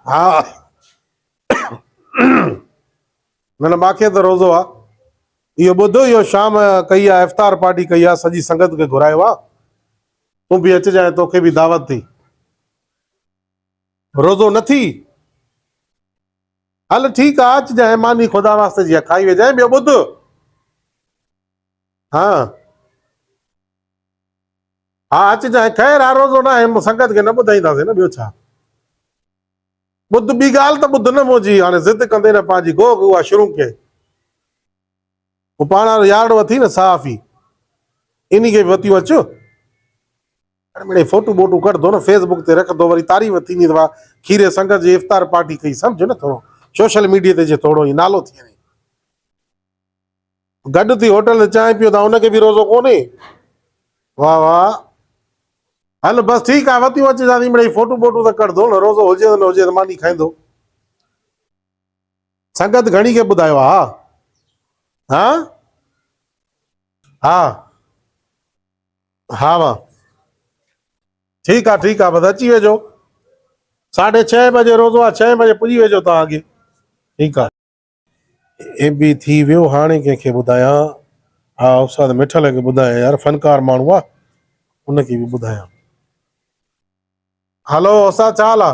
ها نه نه ماکي ته روزو آ اهو ٻڌ اهو شام ڪئي آ افطار پارٽي ڪئي آ سڄي سنگت کي گهرايو آ تون به اچجانء توکي به دعوت ٿي روزو نه ٿي هل ٺيڪ آ اچجانء ماني خدا واسطي جي آ کائي ويجانء ٻيو ٻڌ ها ها اچ جانء، خير ها روزو ناهي، مون سنگت کي نه ٻڌائينداسين نه ٻيو ڇا؟ ٻڌ ٻي ڳالهه ته ٻڌ نه منهنجي، هاڻي ضد ڪندين نه پنهنجي گوء کي اها شرونڪ ڪئي. هو پاڻ وارو يارڙو اٿئي نه صحافي، انهي کي به وتيون اچ. هاڻي مڙئي فوٽون ٻوٽون ڪڍندو نه فيس بڪ تي رکندو، وري تعريف ٿيندي ته واهه کيري سنگت جي افطار پارٽي ڪئي، سمجهه نه ٿورو سوشل ميڊيا تي جي ٿورو ئي نالو ٿي وڃي. گڏ ٿي هوٽل تي چانهه پيئون ٿا ان کي به روزو ڪونهي. واهه واهه هل بس ٺيڪ آهي وتيون اچ جا ٿي مڙئي فوٽون ٻوٽون ته ڪڍ ڌوڻ روزو هجي ته نه هجي ته ماني کائيندو سنگت گهڻي کي ٻڌايو آ ها ها ها ها وا ٺيڪ آ ٺيڪ آ بس اچي ويجو ساڍي ڇهين بجي روزو آ ڇهين بجي پڄي ويجو توهان اڳي ٺيڪ آ ايم بي ٿي ويو هاڻي ڪنهن کي ٻڌايان. ها استاد مٺل کي ٻڌايان يار فنڪار ماڻهو آ ان کي به ٻڌايان. هلو استاد ڇا حال آ.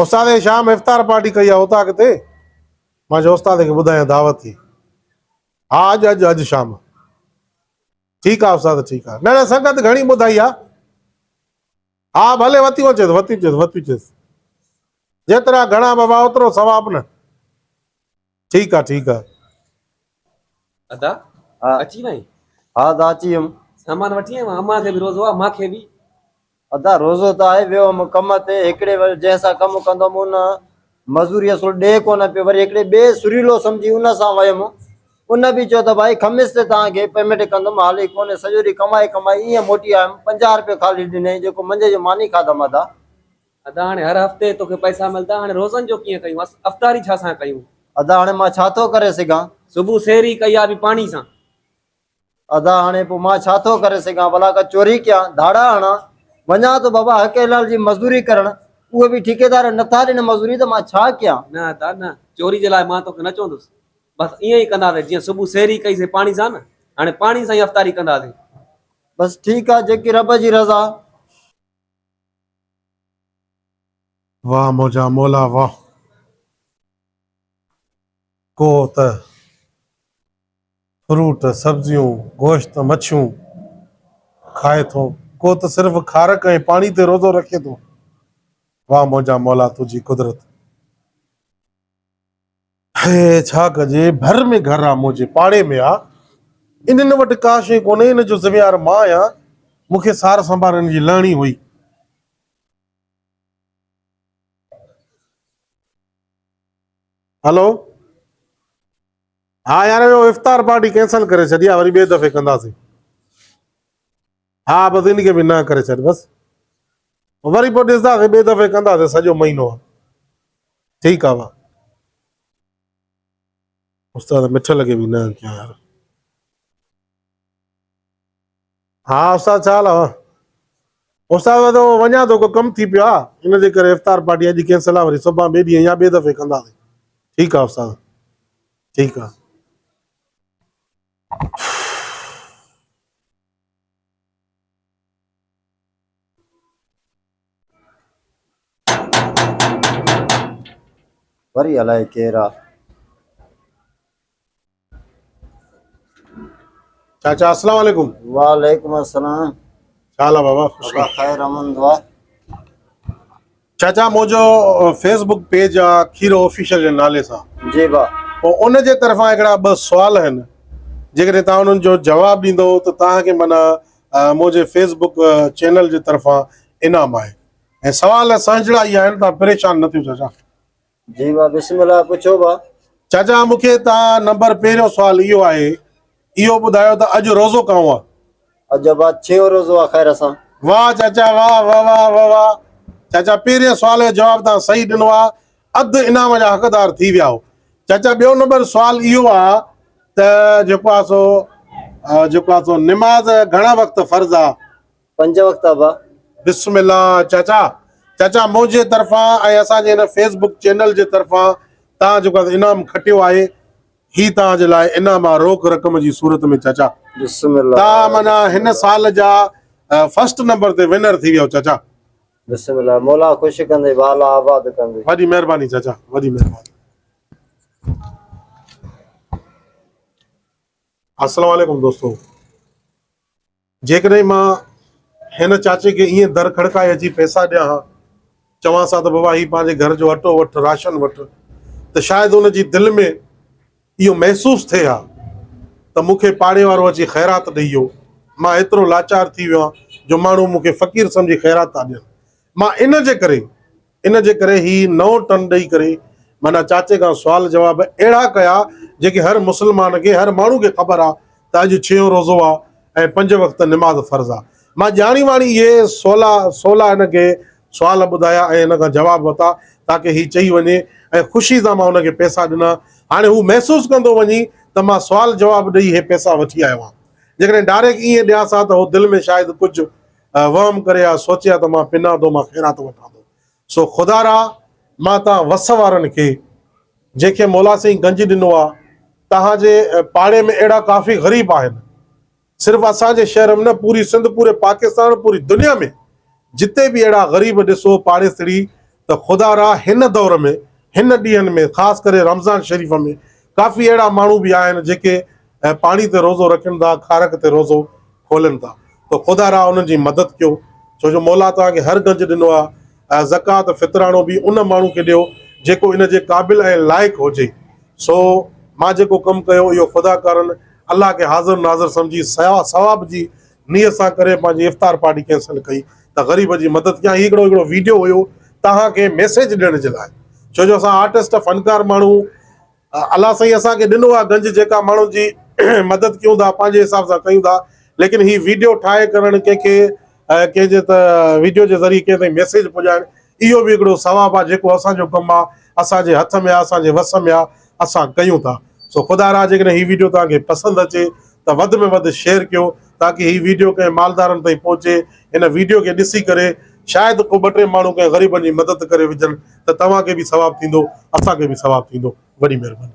استاد اي شام افطار پارٽي ڪئي آ اتان ڪٿي مان چيو استاد کي ٻڌايان دعوت ٿي ها اڄ اڄ اڄ شام ٺيڪ آ استاد ٺيڪ آ نه نه سنگت گهڻي ٻڌائي آ. ها ڀلي وتيون اچيس وتيون چيس وتيون چيس جيترا گهڻا بابا اوترو ثواب نه ٺيڪ آ ٺيڪ آ ادا ها اچي وئين ها ادا اچي ويم سامان وٺي آيو امان کي به روزو آ مان کي به ادا روزو ته آهي ويو هوم ڪم تي هڪڙي جنهن سان ڪم ڪندو مون نه مزوري اصل ڏي ڪونه پيو، وري هڪڙي ٻئي سريلو سمجهي ان سان ويم. ان به چيو ته ڀائي خميس تي توهان کي پيميٽ ڪندم، حال ئي ڪونهي، سڄو ڏينهن ڪمائي ڪمائي ائين موٽي آيم، پنجاهه روپيه خالي ڏنئي، جيڪو منجهه جو ماني کاڌم ادا. ادا هاڻي هر هفتي توکي پئسا ملدا، هاڻي روزن جو ڪيئن ڪيون، افطاري ڇا سان ڪيون؟ ادا هاڻي مان ڇا ٿو ڪري سگهان؟ صبح سحري ڪئي آ به پاڻي سان. ادا هاڻي پوء مان ڇا ٿو ڪري سگهان؟ ڀلا ڪا چوري ڪيان، ڌاڙا هڻان؟ وڃان ٿو بابا حقيلال جي مزدوري ڪرڻ، اهي به ٺيڪيدار نه ٿا ڏين مزوري ته مان ڇا ڪيان؟ نه ادا نه، چوري جي لاء مان توکي نه چوندس، بس ائين ئي ڪنداسين جيئن صبح سحري ڪئي سين پاڻي سان نه، هاڻي پاڻي سان ئي افطاري ڪنداسين. بس ٺيڪ آ، جيڪي رب جي رضا. واهه منهنجا مولا واهه. ڪوهه ته. فروٽ، سبزيون، گوشت، مڇيون کائي ٿو، ڪو ته صرف کارڪ ۽ پاڻي تي روزو رکي ٿو. واھ منهنجا مولا تنهنجي قدرت. هي ڇا ڪجي، ڀر ۾ گهر آ منهنجي پاڙي ۾ آ، انهن وٽ ڪا شيء ڪونهي، ان جو ذميوار مان آهيان، مون کي سار سنڀار انهن جي لهڻي هئي. هلو! ها يار اهو افطار پارٽي ڪينسل ڪري ڇڏي آ وري ٻي دفعي ڪنداسين ها بس ان کي به نه ڪري ڇڏ بس وري پوء ڏسنداسين ٻي دفعي ڪنداسين سڄو مهينو آ ٺيڪ آ وا استاد مٺل کي به نه ڪيا يار ها استاد ڇا حال آهي. استاد وڌو هو وڃان ٿو ڪو ڪم ٿي پيو آ ان جي ڪري افطار پارٽي اڄ ڪينسل آ وري صبحان ٻي ڏينهن يا ٻي دفعي ڪنداسين ٺيڪ آ استاد ٺيڪ آ. وري الائي ڪير آ. چاچا السلام عليڪم وعليڪم السلام ڇا حال آ بابا خوش آ خير امن دعا چاچا منهنجو فيس بڪ پيج آ کيرو آفيشل جي نالي سان جي با پو ان جي طرفان هڪڙا ٻه سوال آهن جيڪڏهن تان انهن جو جواب ڏيندو ته تان کي من منهنجي فيس بڪ چينل جي طرفان انعام آهي ۽ سوال سهجڙا ئي آهن تان پريشان نه ٿيو چاچا جي وا بسم الله پڇو وا. چاچا مون کي تان نمبر پهريون سوال اهو آهي اهو ٻڌايو ته اڄ روزو ڪانو آ. اڄ ابا ڇهيون روزو آ خير سان. واه چاچا واه وواه وواه چاچا پهرين سوال جو جواب تان صحيح ڏنو آ اڌ انعام جا حقدار ٿي ويائو چاچا ٻيو نمبر سوال اهو آ ته جيڪو آ سو جيڪو آ سو نماز گهڻا وقت فرض آ پنج وقت ابا. بسم الله چاچا چاچا منهنجي طرفان ۽ اسان جي هن فيس بڪ چينل جي طرفان توهان جيڪو انعام کٽيو آهي هي توهان جي لاء انعام آهي روڪ رقم جي صورت ۾ چاچا بسم الله توهان معنيٰ هن سال جا فرسٽ نمبر تي ونر ٿي ويو چاچا بسم الله مولا خوش ڪندي والا آباد ڪندي وڏي مهرباني چاچا وڏي مهرباني السلام عليڪم دوستو. جيڪڏهن مان هن چاچي کي ائين در کڙڪائي اچي پئسا ڏيان ها، چوانس ها ته بابا هي پنهنجي گهر جو اٽو وٺ، راشن وٺ، ته شايد هن جي دل ۾ اهو محسوس ٿئي ها ته مون کي پاڙي وارو اچي خيرات ڏئي ويو. مان ايترو لاچار ٿي ويو آهيان جو ماڻهو مون کي فقير سمجهي خيرات ٿا ڏين. مان ان جي ڪري ان جي ڪري هي نئون ٽن ڏئي ڪري معنيٰ چاچي کان سوال جواب اهڙا ڪيا جيڪي هر مسلمان کي هر ماڻهو کي خبر آ ته اڄ ڇهيون روزو آ ۽ پنج وقت نماز فرض آ. مان ڄاڻي واڻي اهي سولا سولا هن کي سوال ٻڌايا ۽ هن کان جواب ورتا تاڪه هي چئي وڃي ۽ خوشي سان مان هن کي پئسا ڏنا هاڻي هو محسوس ڪندو وڃي ته مان سوال جواب ڏئي هي پئسا وٺي آيو آ جيڪڏهن ڊاريڪ ائين ڏيانس ها ته هو دل ۾ شايد ڪجهه وهم ڪري آء سوچيا ته مان پنان ٿو مان خيرات وٺان ٿو. سو خدارا مان تان وس وارن کي جنهن کي مولا سائين گنج ڏنو آ تهان جي پاڙي ۾ اهڙا ڪافي غريب آهن صرف اسان جي شهر م نه پوري سنڌ پوري پاڪستان پوري دنيا ۾ جتي به اهڙا غريب ڏسو پاڙيسري ته خدارا هن دور ۾ هن ڏينهن ۾ خاص ڪري رمضان شريف ۾ ڪافي اهڙا ماڻهو به آهن جيڪي ۽ پاڻي تي روزو رکن ٿا، کارڪ تي روزو کولن ٿا، تو خدا را انهن جي مدد ڪيو، ڇو جو مولا توهان کي هر گنج ڏنو آهي، ۽ زڪوات، فطراڻو، به ان ماڻهو کي ڏيو، جيڪو ان جي قابل ۽ لائق هجي، سو مان جيڪو ڪم ڪيو، اهو خدا ڪارن الله کي حاضر ناظر سمجهي ثواب جي نيت سان ڪري پنهنجي افطار پارٽي ڪينسل ڪئي ته غريب جي مدد ڪيان، هي هڪڙو هڪڙو ويڊيو هيو توهان کي ميسيج ڏيڻ جي لاء، ڇو جو اسان آرٽسٽ، فنڪار ماڻهو الله سائين اسان کي ڏنو آ گنج جيڪا ماڻهن جي مدد ڪيون ٿا پنهنجي حساب سان ڪيون ٿا ليڪن هي ويڊيو ٺاهي ڪرڻ ڪنهن کي ڪنهن جي ته ويڊيو جي ذريعي ڪنهن تائين ميسيج پڄائڻ اهو به هڪڙو ثواب آ جيڪو اسان جو ڪم آ اسان جي هٿ ۾ آ اسان جي وس ۾ آ اسان ڪيون ٿا سو خدا را جيڪڏهن هي ويڊيو توهان کي پسند اچي ته وڌ ۾ وڌ شيئر ڪيو تاڪي هي ويڊيو ڪنهن مالدارن تائين پهچي هن ويڊيو کي ڏسي ڪري شايد ڪو ٻه ٽي ماڻهو ڪنهن غريبن جي مدد ڪري وجهن ته توهان کي به ثواب ٿيندو اسان کي به ثواب ٿيندو وڏي مهرباني.